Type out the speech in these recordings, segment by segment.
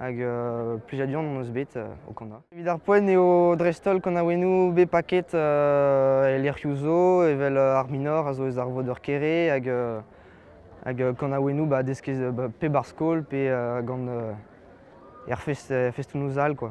Hag euh, plijadur hon eus bet euh, au Kanda. Evit ar poent eo dreist-holl kanaouennoù bet paket euh, e lec'hioù zo, evel Ar Minor a zo eus ar Voder Kere, hag, hag kanaouennoù ba, deskez pe bar skol, pe gant er festoù all. quoi.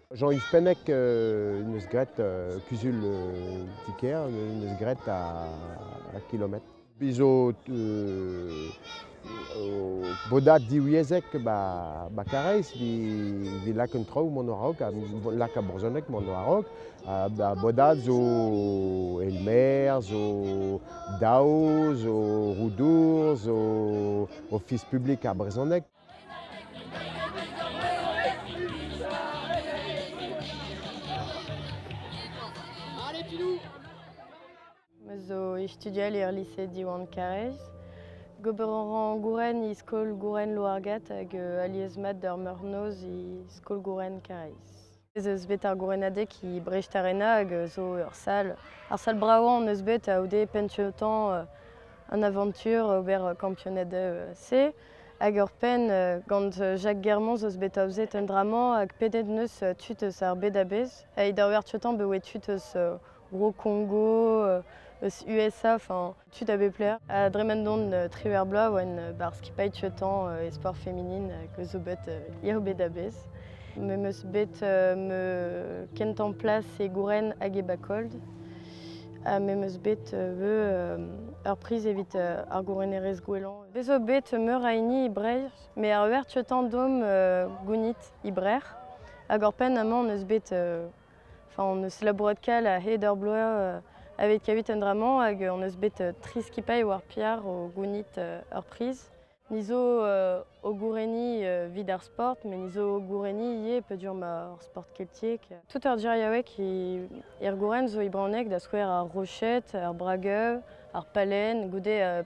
Jean-Yves Pennec en deus graet kuzul ti-kêr, en deus graet a kilometr. Biz zo bodad diwyezhek ba, ba Karaez vi lak un traoù mont a-raok, lak a brezhoneg mont a-raok. Ba bodad zo Elmer, zo Dao, zo Roudour, zo Ofis publik ar brezhoneg. Zo istudial er lise Diwan Karaez. Gober a ra Gouren e skol Gouren Loargat hag euh, alies mat d'ar meurnoz e skol Gouren Karaez. Ez eus bet ar gourenadeg e Brest-Arena hag zo ur sal. Ar sal bravañ hon eus bet a-oude pennsiotañ an avantur ober kampionad-C. Hag oc'hpenn gant Jacques Germont zo bet aozet un dra-mañ hag pedet neus tud eus ar bed-a-bezh. Evit ober pennsiotañ bet tud eus Bro-Kongo, eus USA. tud à Bepler. À Dremandon, euh, Triverblois, oan euh, bar skipailh temps euh, e sport féminine que zo bet eo bet abez. Me meus bet me kent en plas e Gouren hag e Bakold. Ha me meus bet veu ur priz evit ar gourenerez gouelan. Bezo bet meur a hini i Breizh, me ar vertu temps dom gounit i Hag ur pen amañ neus bet hon eus labourat kal a-hed ar bloaz aveit kavit un dra-mañ hag hon eus bet tri skipailh war piar o gounit ur priz. Ni zo o gourenniñ evit ar sport, met ni zo o gourenniñ ivez peogwir ma ur sport keltiek. Tout ur geriaoueg er gouren zo e brezhoneg da skouer ar roched, ar brageu, ar palen goude